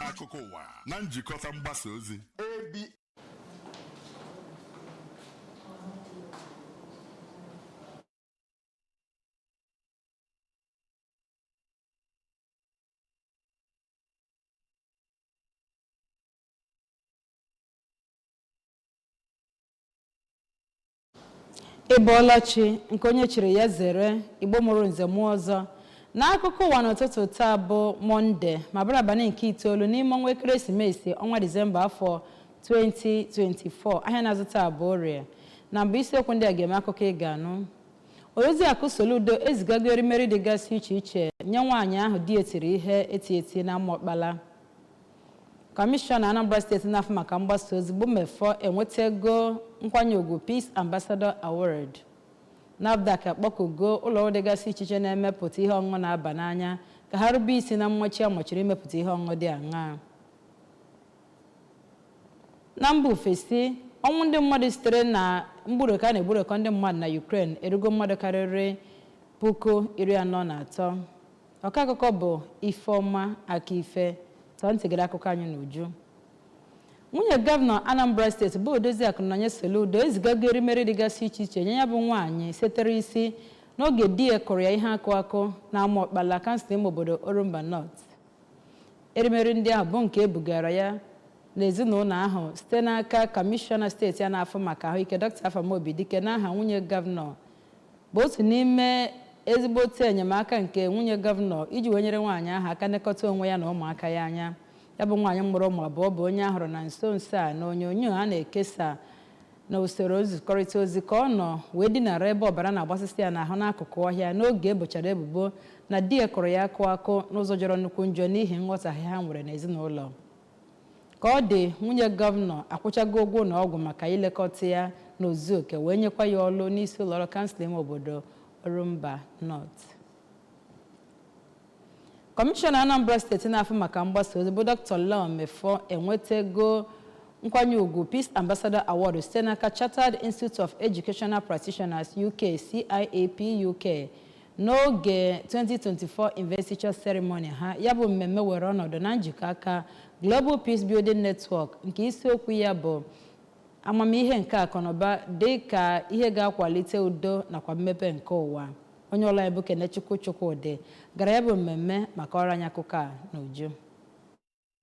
akụkọ ụwa na njikọta mgbasa ozi ị bọọla chi nke onye chiri ya zere igbo mụrụ nze mụọ ọzọ n'akụkọ ụwa n'ụtụtụ taa bụ mọnde ma bụrụ abalị nke itoolu n'ime ọnwa ekeresimesi ọnwa disemba afọ 2024 ahịa na-azụ taa bụ orie na mbụ isiokwu ndị a ga-eme akụkọ ị ga-anụ Odoziakụ Soludo ezigago erimeri dịgasị iche iche nye nwaanyị ahụ di ya tiri ihe eti eti na Amaọkpala. Kọmishọna Anambra steeti na-afụ maka mgbasa ozi bụ Mefor enwetago nkwanye ugwu Peace Ambassador Award. NAFDAC akpọkugo ụlọọrụ dịgasị iche iche na-emepụta ihe ọṅụṅụ na-aba n'anya ka ha rube isi na mmachi a machiri imepụta ihe ọṅụṅụ dị aṅaa. Na mba ofesi, ọnwụ ndị mmadụ sitere na mgburekọ a na-egburekọ ndị mmadụ na Ukraine erugo mmadụ karịrị puku iri anọ na atọ. Ọkọakụkọ bụ Ifeoma Akife tọọ ntị gere akụkọ anyị n'uju. Nwunye Gọvanọ Anambra Steeti bụ Odoziakụ Nonye Soludo ezigago erimeri dịgasị iche iche nye ya bụ nwaanyị setere isi n'oge di ya kụrụ ya ihe akụ akụ na Amaokpala, kansụl ime obodo Orumba North. erimeri ndị ahụ bụ nke e bugara ya n'ezinụlọ ahụ site n'aka kọmishọna steeti a na-afụ maka ahụike dọkịta afam obidike n'aha nwunye gọvanọ bụ otu n'ime ezigbo otu enyemaka nke nwunye gọvanọ iji wee nyere nwaanyị ahụ aka nekọta onwe ya na ụmụaka ya anya ya bụ nwaanyị mụrụ ụmụ abụọ bụ onye a hụrụ na nso nso a na onyonyo a na-ekesa na usoro nzikọrịta ozi ka ọ nọ wee dinara ebe ọbara na-agbasịsị ya n'ahụ n'akụkụ ọhịa n'oge e bochara ebubo na di ya kụrụ ya akụ akụ n'ụzọ jọrọ nnukwu njọ n'ihi nghọtahie ha nwere n'ezinụlọ ka ọ dị nwunye gọvanọ akwụchago ụgwọ ụlọ ọgwụ maka ilekọta ya n'ozu oke wee nyekwa ya ọlụ n'isi ụlọọrụ kansụl ime obodo orumba north Kọmishọna Anambra steeti na-afụ maka mgbasa ozi bụ Dr. Law Mefor enwetago nkwanye ugwu Peace Ambassador Award site n'aka Chartered Institute of Educational Practitioners UK CIEP UK n'oge 2024 investiture ceremony ha ya bụ mmemme were ọnọdụ na njikọ aka Global Peace Building Network nke isiokwu ya bụ amamihe nke akụnụba dị ka ihe ga-akwalite udo nakwa mmepe nke ụwa Onye ọlụ anyị bụ Kenechukwu Chukwudị gara ya bụ mmemme ma kọọrọ anyị akụkọ a n'uju.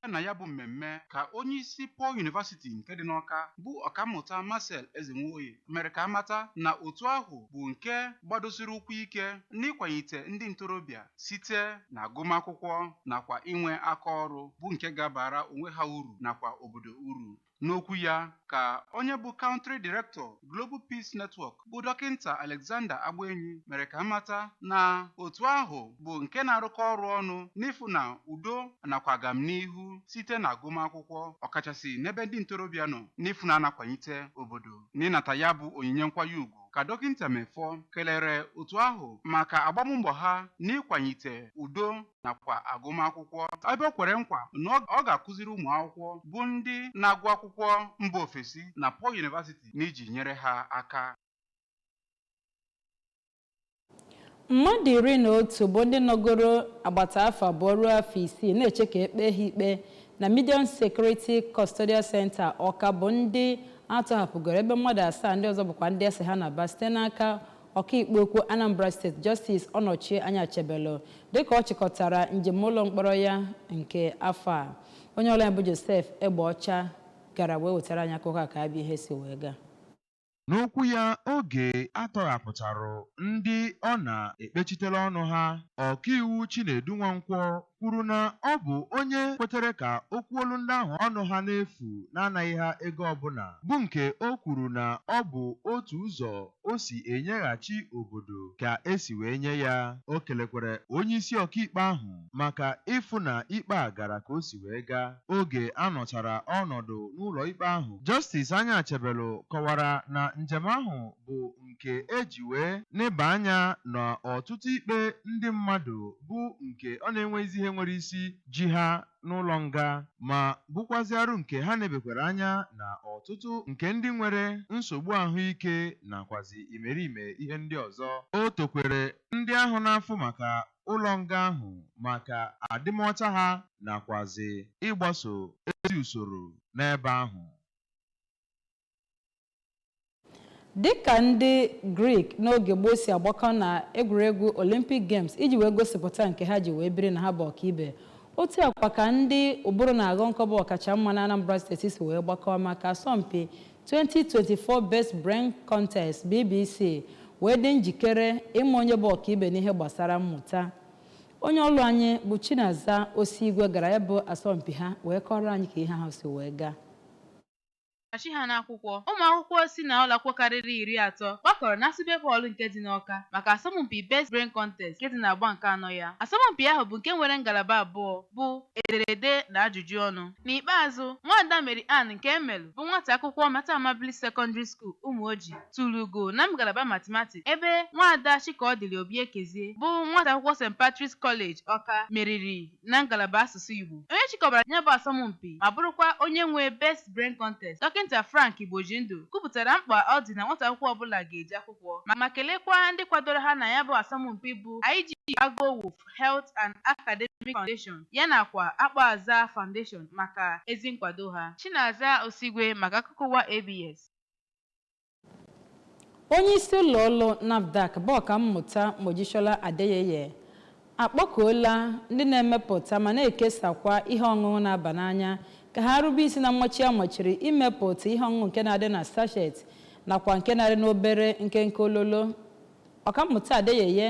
Bịa na ya bụ mmemme ka onyeisi Paul University nke dị n'Awka bụ Ọkammụta Marcel Ezenwoye mere ka a mata na otu ahụ bụ nke gbadosiri ụkwụ ike n'ịkwanyite ndị ntorobịa site na agụmakwụkwọ nakwa inwe aka ọrụ bụ nke ga-abara onwe ha uru nakwa obodo uru. N'okwu ya ka onye bụ Country Director Global Peace Network bụ Dọkịnta Alexander Agbaenyi mere ka a mata na otu ahụ bụ nke na-arụkọ ọrụ ọnụ n'ịfụ na udo nakwa agamnihu site na agụmakwụkwọ ọkachasị n'ebe ndị ntorobịa nọ n'ịfụ na a na-akwanyite obodo n'ịnata ya bụ onyinye nkwanye ugwu ka dọkịnta Mefor kelere otu ahụ maka agbammbọ ha n'ịkwanyite udo nakwa agụmakwụkwọ ebe o kwere nkwa na ọ- ọ ga-akụziri ụmụ akwụkwọ bụ ndị na-agụ akwụkwọ mba ofesi na Paul University n'iji nyere ha aka mmadụ iri na otu bụ ndị nọgoro agbata afọ abụọ ruo afọ isii na-eche ka e kpee ha ikpe na Medium Security Custodial Center Awka bụ ndị a tọhapụgoro ebe mmadụ asaa ndị ọzọ bụkwa ndị a sị ha naba site n'aka Ọkaikpe ukwu Anambra State Justice Ọnọchie Anyachebelu dịka ọ chịkọtara njem ụlọ mkpọrọ ya nke afọ a. Onye ọlụ anyị bụ Joseph Egbeọcha gara wee wetara anyị akụkọ a ka ya bụ ihe si wee gaa. N'okwu ya oge a tọghapụtara ndị ọ na-ekpechitere ọnụ ha, Ọkaiwu Chinedu Nwankwo kwuru na ọ bụ onye kwetere ka o kwuolu ndị ahụ ọnụ ha n'efu n'anaghị ha ego ọbụla bụ nke o kwuru na ọ bụ otu ụzọ o si enyeghachi obodo ka e si wee nye ya. O kelekwara onyeisi ọkaikpe ahụ maka ịfụ na ikpe a gara ka o si wee gaa. Oge a nọchara ọnọdụ n'ụlọikpe ahụ, Justice Anyachebelu kọwara na njem ahụ bụ nke e ji wee neba anya na ọtụtụ ikpe ndị mmadụ bụ nke ọ na-enweghịzi ihe nwere isi ji ha n'ụlọ nga ma bụkwazịarụ nke ha nebekwara anya na ọtụtụ nke ndị nwere nsogbu ahụike nakwazi imerime ihe ndị ọzọ. O tokwere ndị ahụ na-afụ maka ụlọ nga ahụ maka adịmọcha ha nakwazị ịgbaso ezi usoro n'ebe ahụ. dịka ndị greek n'oge gboo si agbakọ na egwuregwu olympic games iji wee gosipụta nke ha ji wee biri na ha bụ ọkaibe otu a kwa ka ndị ụbụrụ na-aghọ nkọ bụ ọkacha mma na anambra steeti si wee gbakọọ maka asọmpi 2024 best brain contest bbc wee dị njikere ịma onye bụ ọkaibe n'ihe gbasara mmụta onye ọlụ anyị bụ chinaza osigwe gara ya bụ asọmpi ha wee kọọrọ anyị ka ihe ahụ si wee gaa Achị ha n'akwụkwọ. Ụmụakwụkwọ si na ụlọakwụkwọ karịrị iri atọ gbakọrọ na ASUBEB Hall nke dị n'Awka maka asọmpi Best Brain Contest nke dị n'agba nke anọ ya. Asọmpi ahụ bụ nke nwere ngalaba abụọ bụ ederede na ajụjụ ọnụ. N'ikpeazụ, Nwaada Mary Ann Nkemelu bụ nwata akwụkwọ Mater Amabilis Secondary School, Umuoji, turu ugo na ngalaba Mathematics ebe Nwaada Chikaọdịlị Obiekezie bụ nwata akwụkwọ St. Patrick's College, Awka, meriri. na ngalaba asụsụ Igbo. Onye chịkọbara ya bụ asọmpi ma bụrụkwa onye nwe Best Brain Contest, Dọkịnta Frank Igbojindụ kwupụtara mkpa ọ dị na nwata akwụkwọ ọbụla ga-eje akwụkwọ ma kelekwaa ndị kwadoro ha na ya bụ asọmpi bụ IG Aguowo Health and Academic Foundation ya nakwa Akpọazaa Foundation maka ezi nkwado ha. Chinaza Osigwe maka akụkọ ụwa ABS. onye isi ụlọ ọrụ nafdac bụ ọkammụta mojisola adeyeye akpọkuola ndị na-emepụta ma na-ekesakwa ihe ọṅụṅụ na-aba n'anya ka ha rube isi na mmachi a machiri imepụta ihe ọṅụṅụ nke na-adị na sachet nakwa nke na-adị n'obere nkenke ololo ọkammụta adeyeye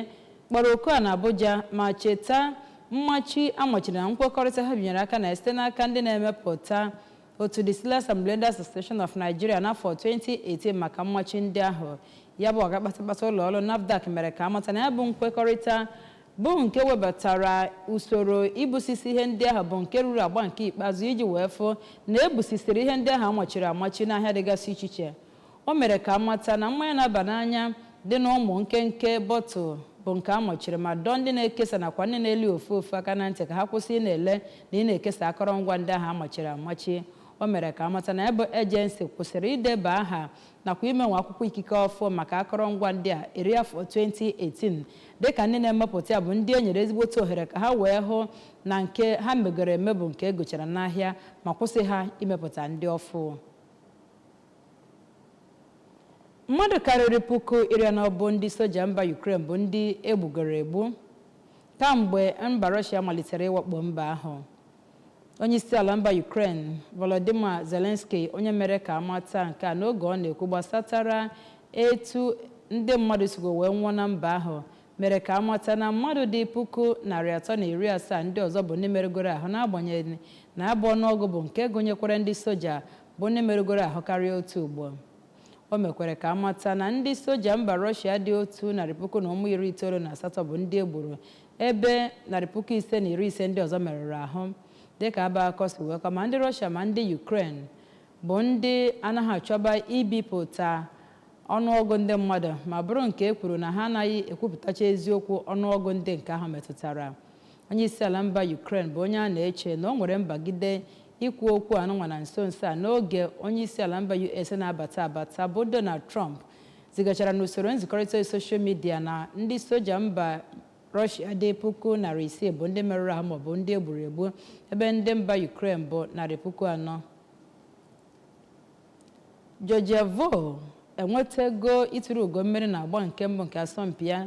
kpọrọ oku a na abuja ma cheta mmachi a machiri na nkwekọrịta ha binyere aka na site n'aka ndị na-emepụta otu Distillers and Blenders Association of Nigeria n'afọ 2018 maka mmachi ndị ahụ ya bụ ọga kpatakpata ụlọ ọrụ NAFDAC mere ka a mata na ya bụ nkwekọrịta bụ nke webatara usoro ibusisi ihe ndị ahụ bụ nke ruru agba nke ikpeazụ iji wee fụ na e busisiri ihe ndị ahụ a machiri amachi n'ahịa dịgasị iche iche O mere ka a mata na mmanya na-aba n'anya dị n'ụmụ nkenke bọtụl bụ nke a machiri ma dọọ ndị na-ekesa nakwa ndị na-ele ofu ofu aka na ntị ka ha kwụsị ị na-ele na ị na-ekesa akọrọngwa ndị ahụ a machiri amachi. O mere ka a mata na ya bụ ejensi kwụsịrị ideba aha nakwa imenwe akwụkwọ ikike ọfụ maka akọrọngwa ndị a eri afọ 2018 dịka ndị na-emepụta ya bụ ndị e nyere ezigbote ohere ka ha wee hụ na nke ha megoro eme bụ nke e gochara n'ahịa ma kwụsị ha imepụta ndị ọfụ. mmadụ karịrị puku iri anọ bụ ndị soja mba Ukraine bụ ndị e gbugoro egbu kamgbe mba Russia malitere ịwakpo mba ahụ onyeisiala mba Ukraine Volodymyr Zelensky onye mere ka a mata nke a n'oge ọ na-ekwu gbasatara etu ndị mmadụ sigo wee nwụọ na mba ahụ mere ka a mata na mmadụ dị puku narị atọ na iri asaa ndị ọzọ bụ ndị merụgoro ahụ n'agbanyeghị na ya bụ ọnụọgụ bụ nke gụnyekwara ndị soja bụ ndị merụgoro ahụ karịa otu ugbo o mekwara ka a mata na ndị soja mba rọshia dị otu narị puku na ụmụ iri itoolu na asatọ bụ ndị e gburu ebe narị puku ise na iri ise ndị ọzọ merụrụ ahụ dịka ya bụ akụkọ si wee kọọ ma ndị rọshia ma ndị yukren bụ ndị anaghị achọba ibipụta ọnụọgụ ndị mmadụ ma bụrụ nke e kwuru na ha anaghị ekwupụtacha eziokwu ọnụọgụ ndị nke ahụ metụtara Onyeisiala mba Ukraine bụ onye a na-eche na o nwere mbagide ikwu okwu anụnwa na nso nso a n'oge onyeisiala mba US na-abata abata bụ Donald Trump zigachara n'usoro nzikọrịta soshal midia na ndị soja mba Rọshia dị puku narị isii bụ ndị merụrụ ahụ maọbụ ndị e gburu egbu ebe ndị mba Ukraine bụ narị puku anọ Georgia Voll enwetago ituru ugo mmeri na agba nke mbụ nke asọmpi ya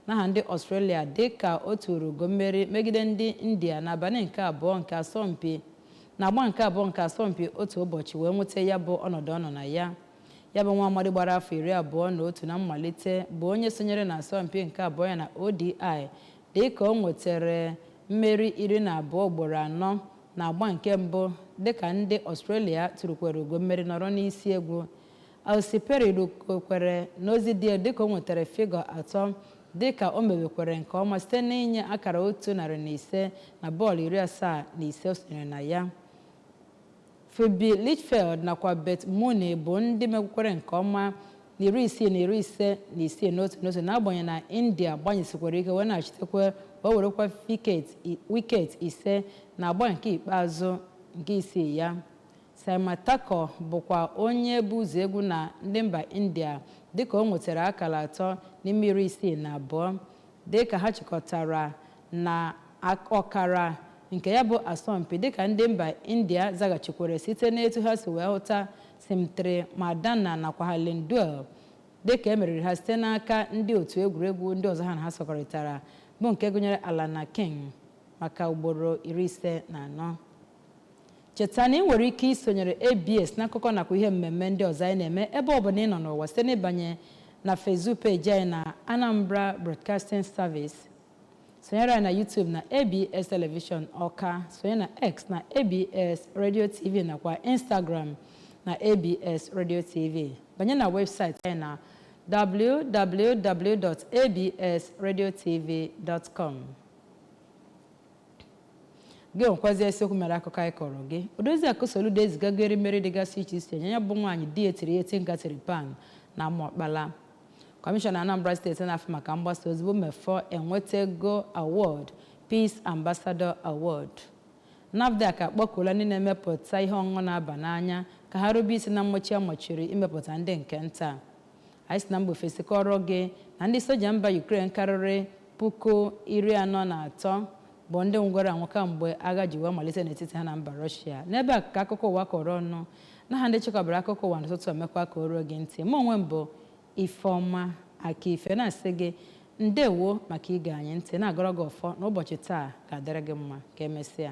n'aha ndị Australia dịka o turu ugo mmeri megide ndị India n'abalị nke abụọ nke asọmpi na agba nke abụọ nke asọmpi otu ụbọchị wee nweta ya bụ ọnọdụ ọ nọ na ya. Ya bụ nwa amadi gbara afọ iri abụọ na otu na mmalite bụ onye sonyere na asọmpi nke abụọ ya na ODI dịka o nwetere mmeri iri na abụọ ugboro anọ Na agba nke mbụ, dịka ndị Australia turukwere ugo mmeri nọrọ n'isi egwu, Ellyse Perry rukwere n'ozi dị elu dịka o nwetara figọ atọ dịka o mewekwere nke ọma site n'inye akara otu narị na ise na bọọlụ iri asaa na ise o sonyere na ya. Phoebe Litchfield nakwa Beth Mooney bụ ndị mekwukwere nke ọma na iri isii na iri ise na isii n'otu n'otu n'agbanyeghị na India gbanyesikwara ike wee na-achitekwa wee werekwa wiket ise na agba nke ikpeazụ nke isii ya Saima Thakor bụkwa onye bu ụzọ egwu na ndị mba India dịka o nwetara akara atọ n'ime iri isii na abụọ dịka ha chịkọtara na ọkara nke ya bụ asọmpi dịka ndị mba India zaghachikwere site n'etu ha si wee hụta Smriti Mandhana nakwa Harleen Deol dịka e meriri ha site n'aka ndị otu egwuregwu ndị ọzọ ha na ha sọkọrịtara bụ nke gụnyere Alana King maka ugboro iri ise na anọ. Cheta na ị nwere ike isonyere ABS n'akụkọ nakwa ihe mmemme ndị ọzọ anyị na-eme ebe ọ bụla ị nọ n'ụwa site n'ịbanye na Facebook peeji anyị na Anambra Broadcasting Service sonyere anyị na YouTube na ABS Television Ọka sonye na X na ABS Radio TV nakwa Instagram na ABS Radio TV banye na webụsaịtị anyị na www.absradiotv.com gị nwekwazi isiokwu mere akụkọ anyị kọọrọ gị Odoziakụ Soludo ezigago erimeri dịgasị iche iche nye ya bụ nwaanyị di etiri eti ngatiri pan na Amaọkpala Kọmishọna Anambra steeti na-afụ maka mgbasa ozi bụ Mefọ enwetego awọd Peace Ambassador Award. NAFDAC akpọkuola ndị na-emepụta ihe ọṅụṅụ na-aba n'anya ka ha rube isi na mmachi a machiri imepụta ndị nke nta. Anyị si na mba ofesi kọọrọ gị na ndị soja mba Ukraine karịrị puku iri anọ na atọ bụ ndị nwụgoro anwụ kamgbe agha ji wee malite n'etiti ha na mba Russia. N'ebe a ka akụkọ ụwa kọrọ ọnụ. n'aha ndị chịkọbara akụkọ ụwa n'ụtụtụ a mekwaa ka o ruo gị ntị mụ onwe m bụ ifeọma akaife na-asị gị ndewo maka ige anyị ntị na-agọrọ gị ọfọ na ụbọchị taa ga-adịrị gị mma ka emesịa